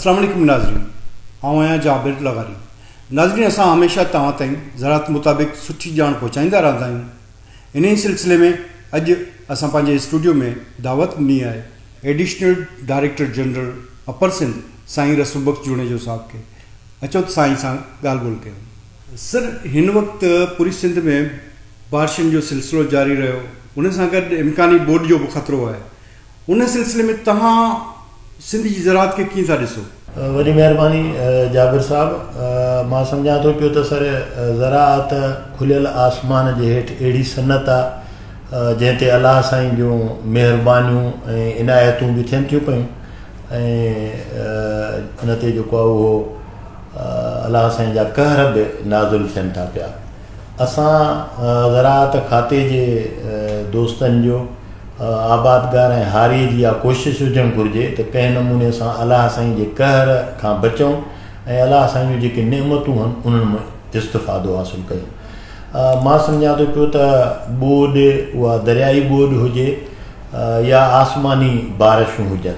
اسلام عليڪم ناظرين آئون آهيان جابر لغاري ناظرين اسان هميشه توهان تائين زراعت مطابق سٺي ڄاڻ پهچائيندا رهندا آهيون انهي ئي سلسلي ۾ اڄ اسان پنهنجي اسٽوڊيو ۾ دعوت ڏني آهي additional director general upper Sindh سائين رسول بخش جوڻيجو صاحب کي اچو ته سائين سان ڳالهه ٻولهه ڪيون سر هن وقت پوري سنڌ ۾ بارشن جو سلسلو جاري رهيو ان سان گڏ امڪاني ٻوڏ جو به خطرو آهي ان سلسلي ۾ توهان سنڌ جي زراعت کي ڪيئن ٿا ڏسو؟ وڏي مهرباني جابر صاحب. مان سمجهان ٿو پيو ته سر زراعت کليل آسمان جي هيٺ اهڙي صنعت آ جنهن تي الله سائين جون مهربانيون ۽ عنايتون به ٿين ٿيون پيون ۽ ان تي جيڪو آ اهو الله سائين جا قهر به نازل ٿين ٿا پيا. اسان زراعت کاتي جي دوستن جو آبادگار ۽ هاري جي اها ڪوشش هجڻ گهرجي ته ڪنهن نموني سان الله سائين جي قهر کان بچون ۽ الله سائين جون جيڪي نعمتون هن انهن مان استفادو حاصل ڪيون مان سمجهان ٿو پيو ته ٻوڏ اها دريائي ٻوڏ هجي يا آسماني بارشون هجن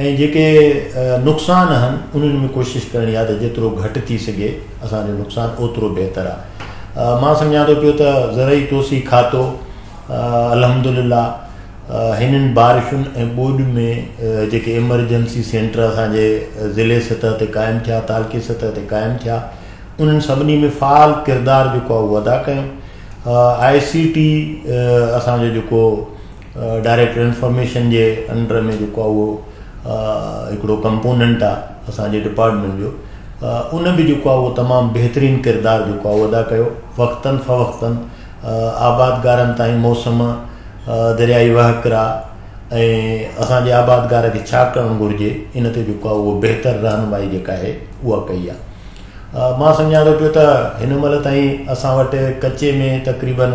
۽ جيڪي نقصان هن انهن ۾ ڪوشش ڪرڻي آهي ته جيترو گهٽ ٿي سگهي اسان جو نقصان اوترو بهتر آهي مان سمجهان ٿو پيو ته زرعي توسيع کاتو الحمدلله هنن بارشن ۽ ٻوڏ ۾ جيڪي ايمرجنسي سينٽر اسان جي ضلعي سطح تي قائم ٿيا تعلقي سطح تي قائم ٿيا انهن سڀني ۾ فعال ڪردار جيڪو اهو ادا ڪيو آء سي ٽي اسان جو جيڪو ڊائريڪٽ انفارميشن جي انڊر ۾ جيڪو آهي اهو هڪڙو ڪمپوننٽ آهي اسان جي ڊپارٽمنٽ جو ان به جيڪو آهي اهو تمام بهترين ڪردار جيڪو آهي ادا ڪيو وقتن فوقتن آبادگارن تائين موسم دريائي وهڪرا ۽ اسان جي آبادگار کي ڇا ڪرڻ گهرجي ان تي جيڪو آهي اهو بهتر رهنمائي جيڪا آهي اها ڪئي آهي مان سمجهان ٿو پيو ته هن مهل تائين اسان وٽ ڪچي ۾ تقريبن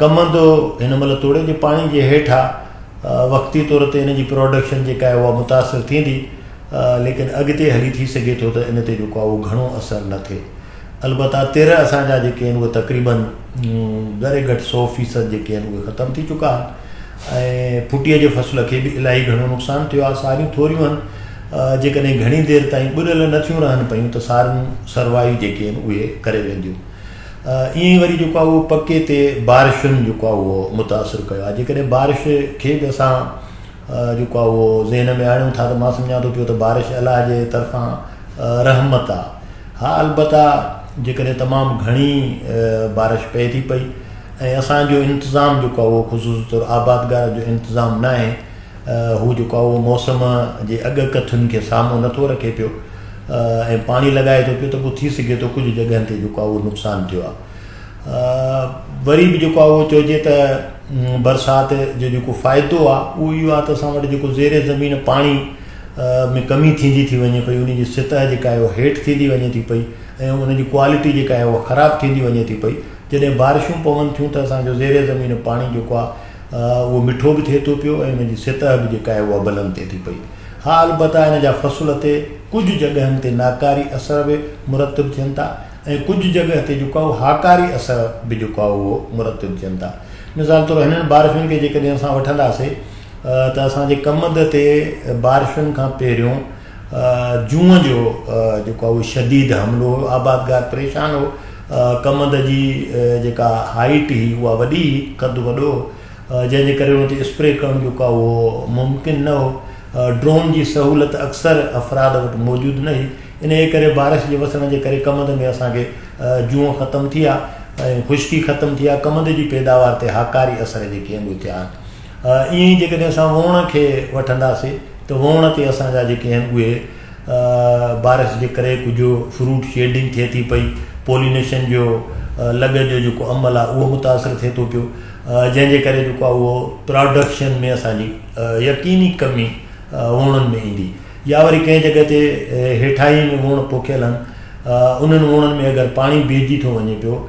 ڪمند هن مهل توڙي جي پاڻي جي هيٺ آ وقتي طور تي ان جي پروڊڪشن جيڪا آهي اها متاثر ٿيندي ليڪن اڳتي هلي ٿي سگهي ٿو ته ان تي جيڪو آهي اهو گهڻو اثر نه ٿئي البته تر اسان جا جيڪي آهن اهي تقريبن گهري گهٽ سو فيصد جيڪي آهن اهي ختم ٿي چڪا آهن ۽ ڦٽيء جي فصل کي به الاهي گهڻو نقصان ٿيو آهي ساريون ٿوريون آهن جيڪڏهن گهڻي دير تائين ٻڏل نه ٿيون رهن پيون ته ساريون سروايون جيڪي آهن اهي ڪري وينديون ائين ئي وري جيڪو آهي اهو پڪي تي بارشن جيڪو آهي اهو متاثر ڪيو آهي جيڪڏهن بارش کي به اسان جيڪو آهي اهو ذهن ۾ آڻيون ٿا ته مان سمجهان ٿو پيو ته بارش الله جي طرفان رحمت آهي ها البته جيڪڏهن تمام گهڻي بارش پئي ٿي پئي ۽ اسان جو انتظام جيڪو آهي اهو خصوصي طور آبادگار جو انتظام ناهي هو جيڪو آهي اهو موسم جي اڳ ڪٿن کي سامهون نه ٿو رکي پيو ۽ پاڻي لڳائي ٿو پيو ته پوء ٿي سگهي ٿو ڪجهه جڳهن تي جيڪو آهي اهو نقصان ٿيو آهي وري به جيڪو آهي اهو چئجي ته برسات جو جيڪو فائدو آهي اهو اهو آهي ته اسان وٽ جيڪو زير زمين پاڻي ۾ ڪمي ٿيندي ٿي وڃي پئي ان جي سطح جيڪا آهي اهو هيٺ ٿيندي وڃي ٿي پئي ۽ ان جي ڪوالٽي جيڪا آهي اهو خراب ٿيندي وڃي ٿي پئي جڏهن بارشون پون ٿيون ته اسانجو زير زمين پاڻي جيڪو آهي اهو مٺو به ٿئي ٿو پيو ۽ ان جي سطح به جيڪا آهي اها بلند ٿئي ٿي پئي. ها البته ان جا فصل تي ڪجهه جڳهن تي ناڪاري اثر به مرتب ٿين ٿا ۽ ڪجهه جڳهه تي جيڪو آهي هاڪاري اثر به جيڪو آهي اهو مرتب ٿين ٿا. مثال طور هنن بارشن کي جيڪڏهن اسان وٺنداسي ته اسان جي ڪمند تي بارشن کان پهريون جون جو جيڪو آهي اهو شديد حملو هو، آبادگار پريشان هو، ڪمند جي جيڪا هائيٽ هئي اها وڏي هئي، قد وڏو هو، جنهن جي ڪري ان تي اسپري ڪرڻ جيڪو آهي اهو ممڪن نه هو، ڊرون جي سهولت اڪثر افراد وٽ موجود نه هئي، انهيء ڪري بارش جي وسڻ جي ڪري ڪمند ۾ اسان کي جون ختم ٿي ها ۽ خشڪي ختم ٿي ها، ڪمند جي پيداوار تي هاڪاري اثر جيڪي آهن اهي ٿيا آهن. ائين ئي جيڪڏهن اسان ووڻ کي وٺنداسي ته ووڻ تي اسان جا جيڪي آهن اهي بارش جي ڪري ڪجهه فروٽ شيڊنگ ٿئي ٿي پئي پولينيشن جو لڳ جو جيڪو عمل آهي اهو متاثر ٿئي ٿو پيو جنهن جي ڪري جيڪو اهو پراڊڪشن ۾ اسان جي يقيني ڪمي ووڻن ۾ ايندي يا وري ڪنهن جڳهه تي هيٺائي ۾ ووڻ پوکيل آهن انهن ووڻن ۾ اگر پاڻي بيهجي ٿو وڃي پيو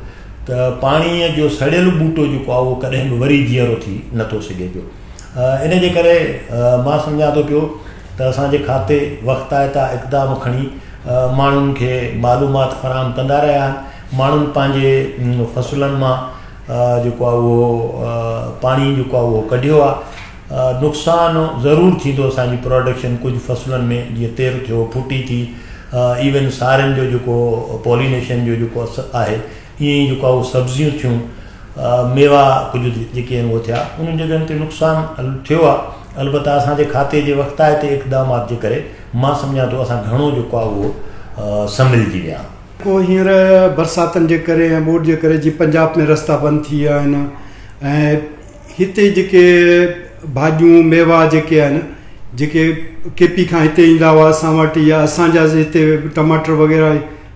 ته پاڻيء جو سڙيل ٻوٽو جيڪو آهي اهو ڪڏهن به وري جيئرو ٿي نٿو سگهي پيو ان جي ڪري مان سمجهان ٿو پيو ته اسان جي کاتي وقتائتا اقدام کڻي ماڻهن کي معلومات فراهم ڪندا رهيا آهن ماڻهن پنهنجي فصلن مان جيڪو آهي اهو پاڻي جيڪو آهي اهو ڪڍيو آهي نقصان ضرور ٿيندو اسان جي پراڊڪشن ڪجهه فصلن ۾ جيئن تر ٿيو ڦٽي ٿي ايون سارين جو جيڪو پولينيشن جو جيڪو اثر آهي ائين ئي جيڪو اهو سبزيون ٿيون ميوا ڪجهه جيڪي آهن اهو ٿيا انهن جڳهن تي نقصان ٿيو آهي البته اسان جي کاتي جي وقتائتي اقدامات جي ڪري مان سمجهان ٿو اسان گهڻو جيڪو آهي اهو سنڀلجي ويا آهيون. پوء هينئر برساتن جي ڪري ۽ ٻوڏ جي ڪري جي پنجاب ۾ رستا بند ٿي ويا آهن ۽ هتي جيڪي ڀاڄيون ميوا جيڪي آهن جيڪي ڪي پي کان هتي ايندا هئا اسان وٽ يا اسان جا هتي ٽماٽر وغيره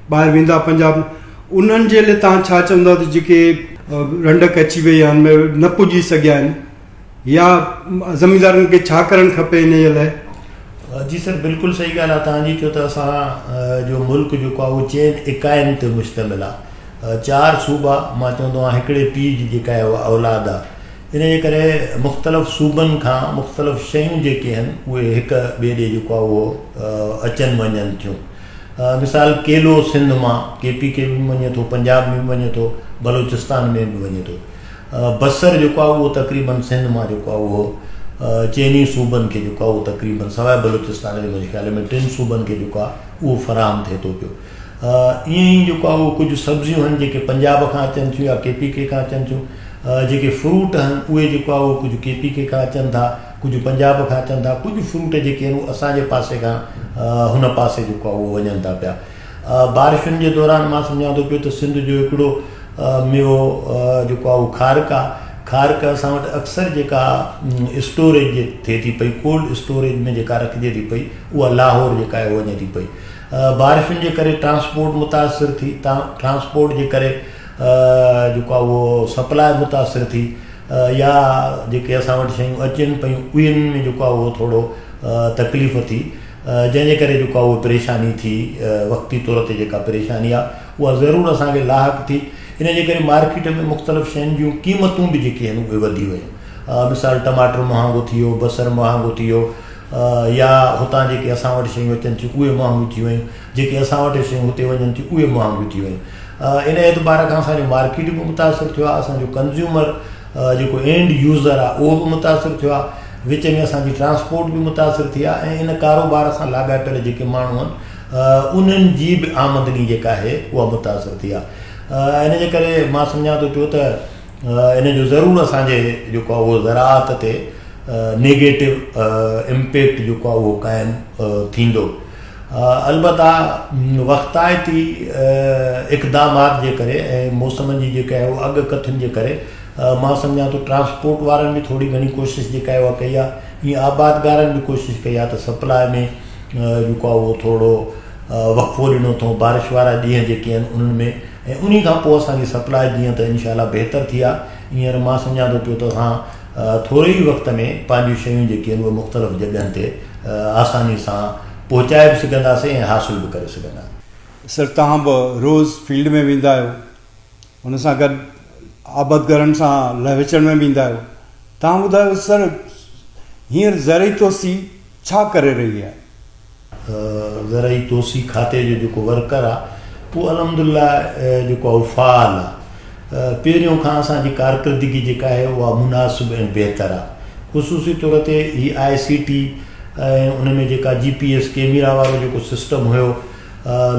ٻاهر ويندا پنجاب انهن جي لئي تان ڇا چوندا ته جيڪي رنڊڪ اچي وئي آهن ۾ نه پڄي سگهيا آهن يا زميندارن کي ڇا ڪرڻ کپي ان جي لاء جي سر بلڪل صحيح ڳالهه آهي توهان جي ڇو ته اسان جو ملڪ جيڪو آهي اهو چئن اڪائين تي مشتمل آهي چار صوبا مان چوندو آهيان هڪڙي پيء جي جيڪا اولاد آ ان جي ڪري مختلف صوبن کان مختلف شيون جيڪي آهن اهي هڪ ٻئي ڏي جيڪو آ اهو اچن وڃن ٿيون مثال ڪيلو سنڌ مان ڪي پي کي به وڃي ٿو پنجاب ۾ به وڃي ٿو بلوچستان ۾ به وڃي ٿو بصر جيڪو آ اهو تقريبن سنڌ مان جيڪو آ اهو چيني صوبن کي جيڪو آ اهو تقريبن سواء بلوچستان جي منهنجي خيال ۾ ٽن صوبن کي جيڪو آ اهو فراهم ٿئي ٿو پيو ائين ئي جيڪو آهي اهو ڪجهه سبزيون آهن جيڪي پنجاب کان اچن ٿيون يا ڪي پي ڪي کان اچن ٿيون جيڪي فروٽ آهن اهي جيڪو آهي اهو ڪجهه ڪي پي ڪي کان اچن ٿا ڪجهه پنجاب کان اچن ٿا ڪجهه فروٽ جيڪي آهن اهي اسان جي پاسي کان هن پاسي جيڪو آهي اهو وڃن ٿا پيا بارشن جي دوران مان سمجهان ٿو پيو ته سنڌ جو هڪڙو ميوو جيڪو آهي اهو کارڪ آهي کارڪ اسان وٽ اڪثر جيڪا اسٽوريج جي ٿئي ٿي پئي ڪولڊ اسٽوريج ۾ جيڪا رکجي ٿي پئي اها لاهور جيڪا آهي وڃي ٿي پئي بارشن جي ڪري ٽرانسپورٽ متاثر ٿي، ٽرانسپورٽ جي ڪري جيڪو آهي اهو سپلاء متاثر ٿي يا جيڪي اسان وٽ شيون اچن پيون اهن ۾ جيڪو آهي اهو ٿورو تڪليف ٿي جنهن جي ڪري جيڪو آهي اهو پريشاني ٿي وقتي طور تي جيڪا پريشاني آهي اها ضرور اسان کي لاحق ٿي ان جي ڪري مارڪيٽ ۾ مختلف شين جون قيمتون به جيڪي آهن اهي وڌي ويون مثال ٽماٽر مهانگو ٿي ويو بصر مهانگو ٿي ويو يا هتان جيڪي اسان وٽ شيون اچن ٿيون اهي مهانگيون ٿي ويون، جيڪي اسان وٽ شيون هتي وڃن ٿيون اهي مهانگيون ٿي ويون. ان اعتبار کان اسان جو مارڪيٽ به متاثر ٿيو آهي، اسان جو ڪنزيومر جيڪو اينڊ يوزر آهي اهو به متاثر ٿيو آهي، وچ ۾ اسان جي ٽرانسپورٽ به متاثر ٿي آهي ۽ ان ڪاروبار سان لاڳاپيل جيڪي ماڻهو آهن انهن جي به آمدني جيڪا آهي اها متاثر ٿي آهي. ان جي ڪري مان سمجهان ٿو پيو ته ان جو ضرور اسان جي جيڪو آهي اهو زراعت تي نيگيٽو امپيڪٽ جيڪو آهي اهو قائم ٿيندو البتہ وقتائتي اقدامات جي ڪري ۽ موسمن جي جيڪا آهي اهو اڳ ڪٿن جي ڪري مان سمجهان ٿو ٽرانسپورٽ وارن به ٿوري گهڻي ڪوشش جيڪا آهي اها ڪئي آهي ائين آبادگارن به ڪوشش ڪئي آهي ته سپلاء ۾ جيڪو آهي اهو ٿورو وقفو ڏنو اٿئون بارش وارا ڏينهن جيڪي آهن انهن ۾ ۽ انهي کان پوء اسان جي سپلاء جيئن ته انشاء الله بهتر ٿي آهي هينئر مان سمجهان ٿو پيو ته اسان ٿوري ئي وقت ۾ پنهنجون شيون جيڪي آهن اهي مختلف جڳهن تي آساني سان پهچائي به سگهنداسين ۽ حاصل به ڪري سگهنداسين. سر توهان به روز فيلڊ ۾ ويندا آهيو ان سان گڏ آبدگارن سان لهه وچڙ ۾ به ايندا آهيو توهان ٻڌايو سر هينئر زرعي توسيع ڇا ڪري رهي آهي؟ زرعي توسيع کاتي جو جيڪو ورڪر آ اهو الحمدلله جيڪو آ اهو فعال آ پهريون کان اسان جي ڪارڪردگي جيڪا آهي اها مناسب ۽ بهتر آ خصوصي طور تي هي آء سي ٽي ۽ ان ۾ جيڪا جي پي ايس ڪيميرا وارو جيڪو سسٽم هيو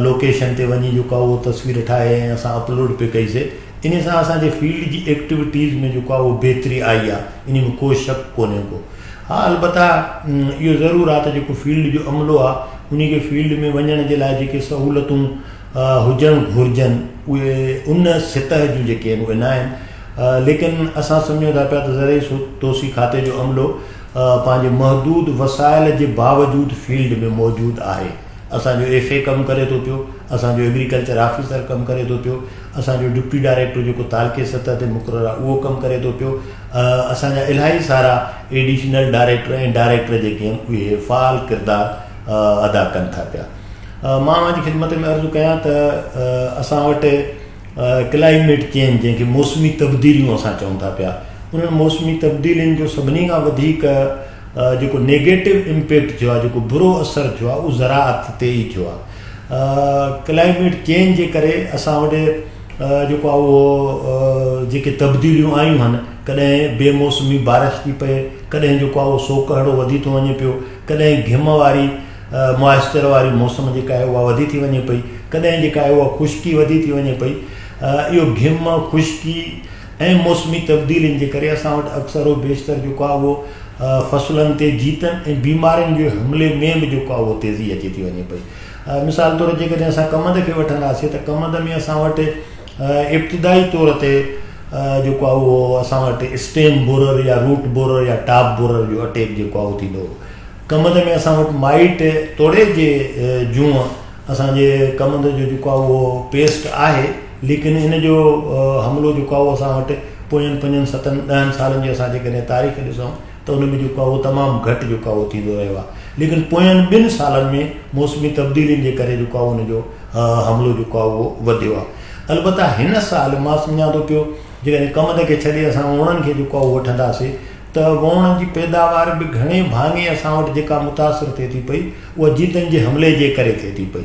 لوڪيشن تي وڃي جيڪو آهي اهو تصوير ٺاهي ۽ اسان اپلوڊ پي ڪئي سي انهي سان اسان جي فيلڊ جي ايڪٽيوٽيز ۾ جيڪو آهي اهو بهتري آئي آهي انهي ۾ ڪو شڪ ڪونهي ڪو ها البته اهو ضرور آهي ته جيڪو فيلڊ جو عملو آهي انهي کي فيلڊ ۾ وڃڻ جي لاء جيڪي سهولتون هجڻ گهرجن اهي ان سطح جون جيڪي آهن اهي نه آهن ليڪن اسان سمجهون ٿا پيا ته زرعي توسيع کاتي جو عملو پنهنجي محدود وسائل جي باوجود فيلڊ ۾ موجود آهي اسان جو ايف اي ڪم ڪري ٿو پيو، اسان جو ايگريڪلچر آفيسر ڪم ڪري ٿو پيو، اسان جو ڊپٽي ڊائريڪٽر جيڪو تعلقي سطح تي مقرر آهي اهو ڪم ڪري ٿو پيو، اسان جا الاهي سارا ايڊيشنل ڊائريڪٽر ۽ ڊائريڪٽر جيڪي آهن اهي فعال ڪردار ادا ڪن ٿا پيا. مان اوهان جي خدمت ۾ عرض ڪيان ته اسان وٽ ڪلائميٽ چينج جنهن کي موسمي تبديليون اسان چئون ٿا پيا انهن موسمي تبديلين جو سڀني کان وڌيڪ جيڪو نيگيٽو امپيڪٽ ٿيو آهي جيڪو برو اثر ٿيو آهي اهو زراعت تي ئي ٿيو آهي ڪلائميٽ چينج جي ڪري اسان وٽ جيڪو آهي اهو جيڪي تبديليون آيون آهن ڪڏهن بي موسمي بارش ٿي پئي ڪڏهن جيڪو آهي اهو سوڪهڙو وڌي ٿو وڃي پيو ڪڏهن گهم واري موئسچر واري موسم جيڪا آهي اها وڌي ٿي وڃي پئي ڪڏهن جيڪا آهي اها خشڪي وڌي ٿي وڃي پئي اهو گهم خشڪي ۽ موسمي تبديلين جي ڪري اسان وٽ اڪثر و بيشتر جيڪو آهي اهو فصلن تي جيتن ۽ بيمارين جي حملي ۾ به جيڪو آهي اهو تيزي اچي ٿي وڃي پئي. مثال طور جيڪڏهن اسان ڪمند کي وٺنداسين ته ڪمند ۾ اسان وٽ ابتدائي طور تي جيڪو آهي اهو اسان وٽ اسٽيم بورر يا روٽ بورر يا ٽاپ بورر جو اٽيڪ جيڪو آهي اهو ٿيندو هو. ڪمند ۾ اسان وٽ مائيٽ توڙي جي جون اسان جي ڪمند جو جيڪو آهي اهو پيسٽ آهي. ليڪن ان جو حملو جيڪو آهي اهو اسان وٽ پوين پنجن ستن ڏهن سالن جي اسان جيڪڏهن تاريخ ڏسون ته ان ۾ جيڪو آهي اهو تمام گهٽ جيڪو آهي اهو ٿيندو رهيو آهي ليڪن پوين ٻن سالن ۾ موسمي تبديلين جي ڪري جيڪو آهي ان جو حملو جيڪو آهي اهو وڌيو آهي البته هن سال مان سمجهان ٿو پيو جيڪڏهن ڪمند کي ڇڏي اسان ووڻن کي جيڪو آهي اهو وٺنداسي ته ووڻن جي پيداوار به گهڻي ڀاڱي اسان وٽ جيڪا متاثر ٿئي ٿي پئي اها جيتن جي حملي جي ڪري ٿئي ٿي پئي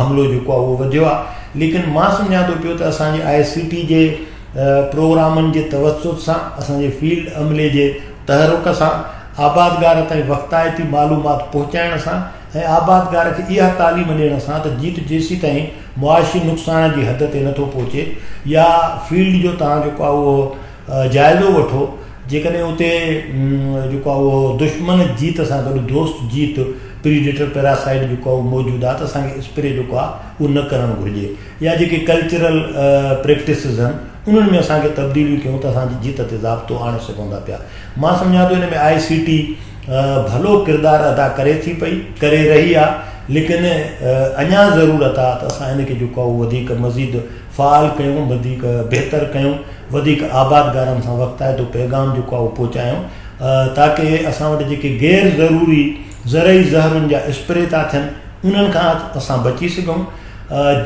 حملو جيڪو آهي اهو وڌيو آهي ليڪن مان سمجهان ٿو پيو ته اسان جي آء سي ٽي جي پروگرامن جي توسط سان اسان جي فيلڊ عملي جي تحرڪ سان آبادگار تائين وقتائتي معلومات پهچائڻ سان ۽ آبادگار کي اها تعليم ڏيڻ سان ته جيت جيسيتائين معاشي نقصان جي حد تي نٿو پهچي يا فيلڊ جو توهان جيڪو آهي اهو جائزو وٺو جيڪڏهن اتي جيڪو آهي اهو دشمن جيت سان گڏ دوست جيت پريڊيٽر پيراسائيڊ جيڪو آهي اهو موجود آهي ته اسان کي اسپري جيڪو آهي اهو نه ڪرڻ گهرجي يا جيڪي ڪلچرل پريڪٽسز آهن انهن ۾ اسان کي تبديليون ڪيون ته اسان جي جيت تي ضابطو آڻي سگهون ٿا پيا مان سمجهان ٿو ان ۾ آء سي ٽي ڀلو ڪردار ادا ڪري ٿي پئي ڪري رهي آهي ليڪن اڃا ضرورت آهي ته اسان ان کي جيڪو آهي اهو وڌيڪ مزيد فعال ڪيون وڌيڪ بهتر ڪيون وڌيڪ آباد گارن سان وقت آهي تو پيغام جيڪو آهي اهو پهچايون تاڪه اسان وٽ جيڪي غير ضروري زرعي زهرن جا اسپري ٿا ٿين انهن کان اسان بچي سگهون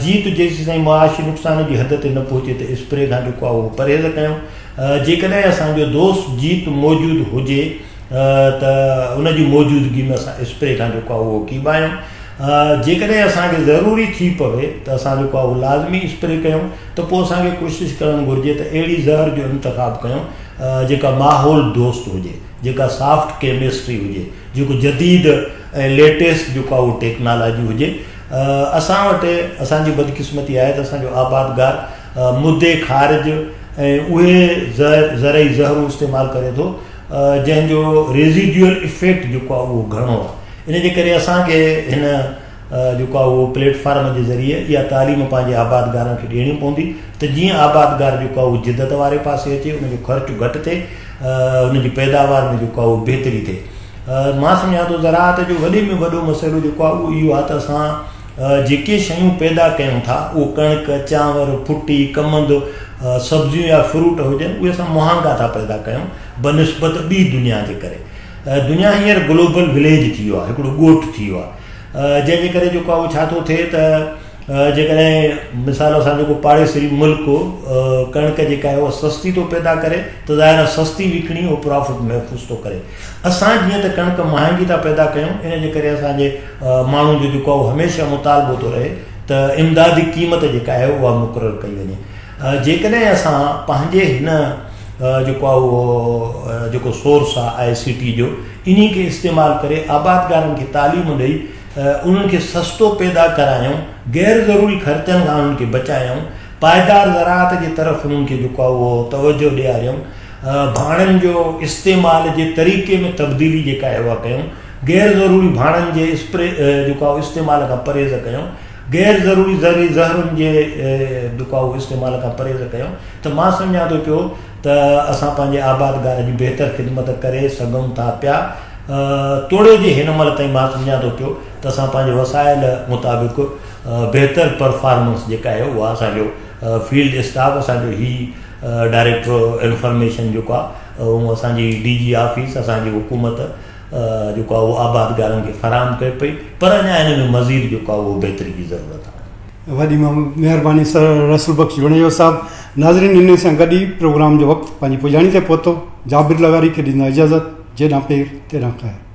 جيت جيسي تائين معاشي نقصان جي حد تي نه پهچي ته اسپري کان جيڪو آهي اهو پرهيز ڪيون جيڪڏهن اسان جو دوست جيت موجود هجي ته ان جي موجودگي ۾ اسان اسپري کان جيڪو آهي اهو ڪيب آهيون جيڪڏهن اسان کي ضروري ٿي پوي ته اسان جيڪو آهي اهو لازمي اسپري ڪيون ته پوء اسان کي ڪوشش ڪرڻ گهرجي ته اهڙي زهر جو انتخاب ڪيون جيڪا ماحول دوست هجي جيڪا سافٽ ڪيمسٽري هجي جيڪو جديد ۽ ليٽيسٽ جيڪو آهي اهو ٽيڪنالاجي هجي اسان وٽ اسان جي بدقسمتي آهي ته اسان جو آبادگار مدي خارج ۽ اهي زهر زرعي زهرون استعمال ڪري ٿو جنهن جو ريزيڊيول افيڪٽ جيڪو آهي اهو گهڻو آهي ان جي ڪري اسان کي هن جيڪو آهي اهو پليٽ فارم جي ذريعي اها تعليم پنهنجي آبادگارن کي ڏيڻي پوندي ته جيئن آبادگار جيڪو آهي اهو جدت واري پاسي اچي ان جو خرچ گهٽ ٿئي ان جي پيداوار ۾ جيڪو آهي اهو بهتري ٿئي مان سمجهان ٿو زراعت جو وڏي ۾ وڏو مسئلو جيڪو آهي اهو اهو آهي ته اسان جيڪي شيون پيدا ڪيون ٿا، اهو ڪڻڪ، چانور، ڦٽي، ڪمند، سبزيون يا فروٽ هجن، اهي اسان مهانگا ٿا پيدا ڪيون بنسبت ٻي دنيا جي ڪري. دنيا هينئر گلوبل وليج ٿي ويو آهي، هڪڙو ڳوٺ ٿي ويو آهي، جنهن جي ڪري جيڪو آهي اهو ڇا ٿو ٿئي ته جيڪڏهن مثال اسان جو ڪو پاڙيسري ملڪ ڪڻڪ جيڪا آهي اها سستي ٿو پيدا ڪري ته ظاهر آهي سستي وڪڻي اهو پرافٽ محفوظ ٿو ڪري. اسان جيئن ته ڪڻڪ مهانگي ٿا پيدا ڪيون ان جي ڪري اسان جي ماڻهن جو جيڪو اهو هميشه مطالبو ٿو رهي ته امدادي قيمت جيڪا آهي اها مقرر ڪئي وڃي جيڪڏهن اسان پنهنجي هن جيڪو آهي اهو جيڪو سورس آهي آء سي ٽي جو انهي کي استعمال ڪري آبادگارن کي تعليم ڏئي انهن کي سستو پيدا ڪرايون غير ضروري خرچن کان انهن کي بچايون پائدار زراعت جي طرف انهن کي جيڪو آهي اهو توجه ڏياريون ڀاڻن جو استعمال جي طريقي ۾ تبديلي جي ڪا احوا ڪيون، غير ضروري ڀاڻن جي اسپري جو ڪا استعمال کان پرهيز ڪيون، غير ضروري زهري زهرن جي جو ڪا استعمال کان پرهيز ڪيون ته مان سمجهان ٿو پيو ته اسان پنهنجي آبادگار جي بهتر خدمت ڪري سگهون ٿا پيا توڙي جي هن مهل تائين مان سمجهان ٿو پيو ته اسان پنهنجي وسائل مطابق بهتر پرفارمنس جي ڪا اهي اها اسان جو فيلڊ اسٽاف اسان جو هي ڊائريڪٽر انفارميشن جيڪو آ اهو اسان جي ڊي جي آفيس اسان جي حڪومت جيڪو آ اهو آبادگارن کي فراهم ڪري پئي پر اڃا ان ۾ مزيد جيڪو آ اهو بهتري جي ضرورت آ. وڏي مهرباني سر رسول بخش جوڻيجو صاحب. ناظرين انهي سان گڏ ئي پروگرام جو وقت پنهنجي پڄاڻي تي پهتو. جابر لغاري کي ڏيندو آهيان اجازت. جيڏانهن پير تيڏانهن خير.